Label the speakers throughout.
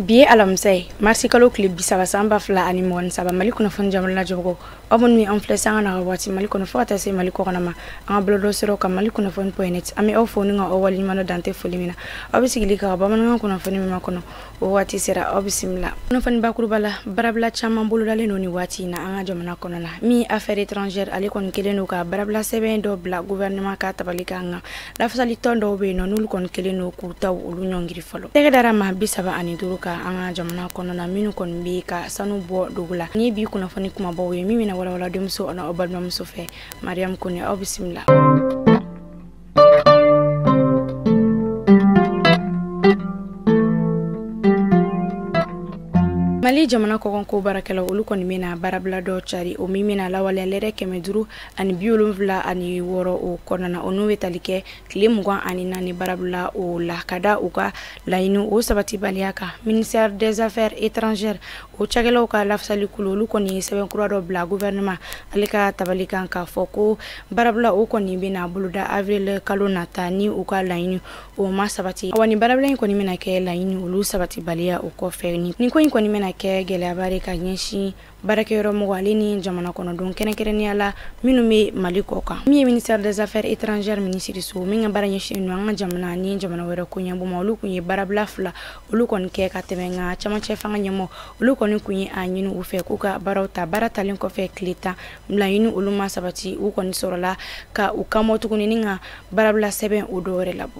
Speaker 1: bi ye alamisa ye marisi kalo tile bisaba san ba fila ani mugan ni saba mali kunnafoni jamana jɔgo aw minnu bɛ an filɛ sanga na ka waati mali kɔnɔ fo ka taa se mali kɔkanna ma an ka bɔlɔlɔ sira kan mali kunnafoni point net an bɛ aw fo ni ka aw waleɲumandɔn dan tɛ foli min na aw bɛ sigili kɛ ka bamanankan kunnafoni min makɔnɔ o waati sera aw bisimila kunnafoni bakuruba la baarabila caman bolodalen don nin waati na an ka jamana kɔnɔ la min affaires étrangères ale kɔni kɛlen don ka baarabila sɛbɛn dɔ bila gouvernement ka tabali kan nka lafasali tɔn dɔw bɛ yen nɔ n'olu kɔni kɛlen don k'u taw olu ɲɔngiri fɔlɔ tɛgɛ dara maa bi saba ani duuru kan an ka jamana kɔnɔ na minnu kɔni bɛ ka sanu bɔ dugu la nin bi kunnafoni kunbabaw ye min bɛna walawala denmuso ani aw balimamuso fɛ mariam kone aw bisimila mali jamana kɔkanko baarakɛla olu kɔni bɛna baarabila dɔ cari o min bɛna lawaleya lɛrɛ kɛmɛ duuru ani bi wolonfila ani wɔɔrɔ o kɔnɔna o n'u bɛ tali kɛ tile mugan ani naani baarabila o la ka da u ka laɲini o sabatibaliya kan ministère des affaires étrangères o cakɛlaw ka lafasali kulu olu kɔni ye sɛbɛn kura dɔ bila gouvernement ale ka tabali kan k'a fɔ ko baarabila o kɔni bɛna boloda avril kalo nata ni u ka laɲini o ma sabati awa ni baarabila in kɔni bɛna kɛ laɲini olu sabatibaliya o kɔfɛ nin ko in kɔni bɛna kɛ gɛlɛyaba de ka ɲɛsin baarakɛyɔrɔ mɔgɔ ale ni jamana kɔnɔdenw kɛrɛnkɛrɛnnenya la minnu bɛ mali kɔkan min ye ministère des affaires étrangères minisiriso min ka baara ɲɛsinnen don an ka jamana ni jamana wɛrɛ koɲɛbɔ ma olu kun ye baarabila fila olu kɔni kɛ ka tɛmɛ nka cɛmancɛ fanga ɲɛmɔgɔ olu kɔni kun ye a ɲini u fɛ k'u ka baaraw ta baara talen kɔfɛ tile tan laɲini olu ma sabati u kɔni sɔrɔla ka u kan bɔ tuguni ni ka baarabila sɛbɛn o dɔ wɛrɛ labɔ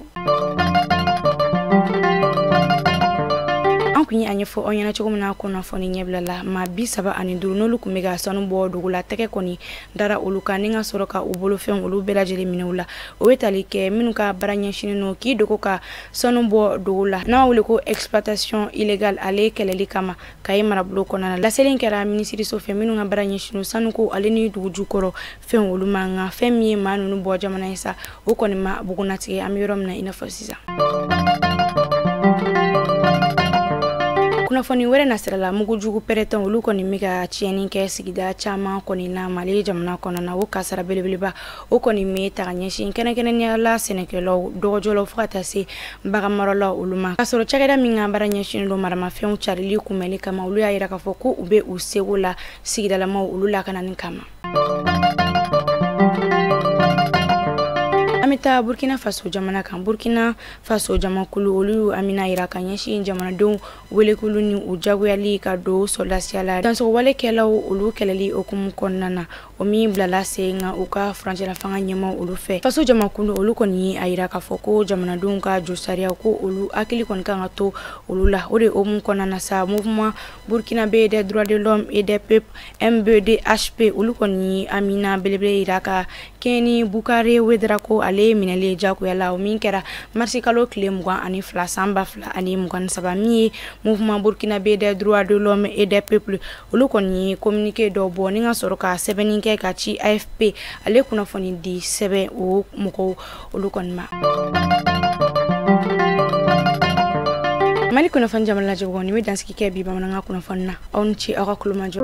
Speaker 1: an kun ye a ɲɛfɔ aw ɲɛna cogo min na kunnafoni ɲɛbila la maa bi saba ani duuru n'olu kun bɛ ka sanu bɔ dugu la tɛgɛ kɔni dara olu kan ni ka sɔrɔ ka u bolofɛnw olu bɛɛ lajɛlen minɛ u la o ye tali kɛ minnu ka baara ɲɛsinnen don k'i dogo ka sanu bɔ dugu la n'a bɛ wele ko exploitation illégale ale kɛlɛli kama kayi marabolo kɔnɔna na laseli in kɛra minisiriso fɛ minnu ka baara ɲɛsin don sanuko ale ni dugu jukɔrɔ fɛn olu ma nka fɛn min ye maa ninnu bɔ jamana ye sa o kɔni ma bugunnatigɛ an bɛ yɔrɔ min na i n'a fɔ sisan kunnafoni wɛrɛ nasirala mugu jugu pɛrɛnta olu kɔni bɛ ka tiɲɛni kɛ sigida caman kɔnɔna mali jamana kɔnɔna o kasara belebeleba o kɔni bɛ taa ka ɲɛsin kɛrɛnkɛrɛnnenya la sɛnɛkɛlaw dɔgɔjɔlaw fo ka taa se baganmaralaw olu ma k'a sɔrɔ cakɛda min ka baara ɲɛsin don maramafɛnw carili kunbɛnni kama olu y'a jira k'a fɔ ko u bɛ u seko la sigidalamaw olu lakanani kama an bɛ taa burkina faso jamana kan burkina faso jamakulu olu y'u hamina yira ka ɲɛsin jamanadenw welekulu ni u jagoyali ka don sɔrɔdasiya la dansagon walekɛlaw olu kɛlɛli hukumu kɔnɔna na o min bilala sen kan u ka furancɛla fanga ɲɛmaaw olu fɛ faso jamakulu olu kɔni ye a yira k'a fɔ ko jamanadenw ka josariya ko olu hakili kɔni kan ka to olu la o de hukumu kɔnɔna na sa mouvement burkinabè des droits de l'homme et des peuples mbdhp olu kɔni hamina belebele yira ka kɛɲɛ ni boukaré ouédraogo ale ye minɛli ye jagoya la o min kɛra marisi kalo tile mugan ani fila san ba fila ani mugan ni saba min ye mouvement burkinabè des droits de l'homme et des peuples olu kɔni ye kominike dɔ bɔ ni ka sɔrɔ ka sɛbɛnni kɛ ka ci afp ale kunnafoni di sɛbɛn o mɔgɔw olu kɔni ma mali kunnafoni jamana lajɛbagaw nin bɛ dansigi kɛ bi bamanankan kunnafoni na aw ni ce aw ka tulomajɔ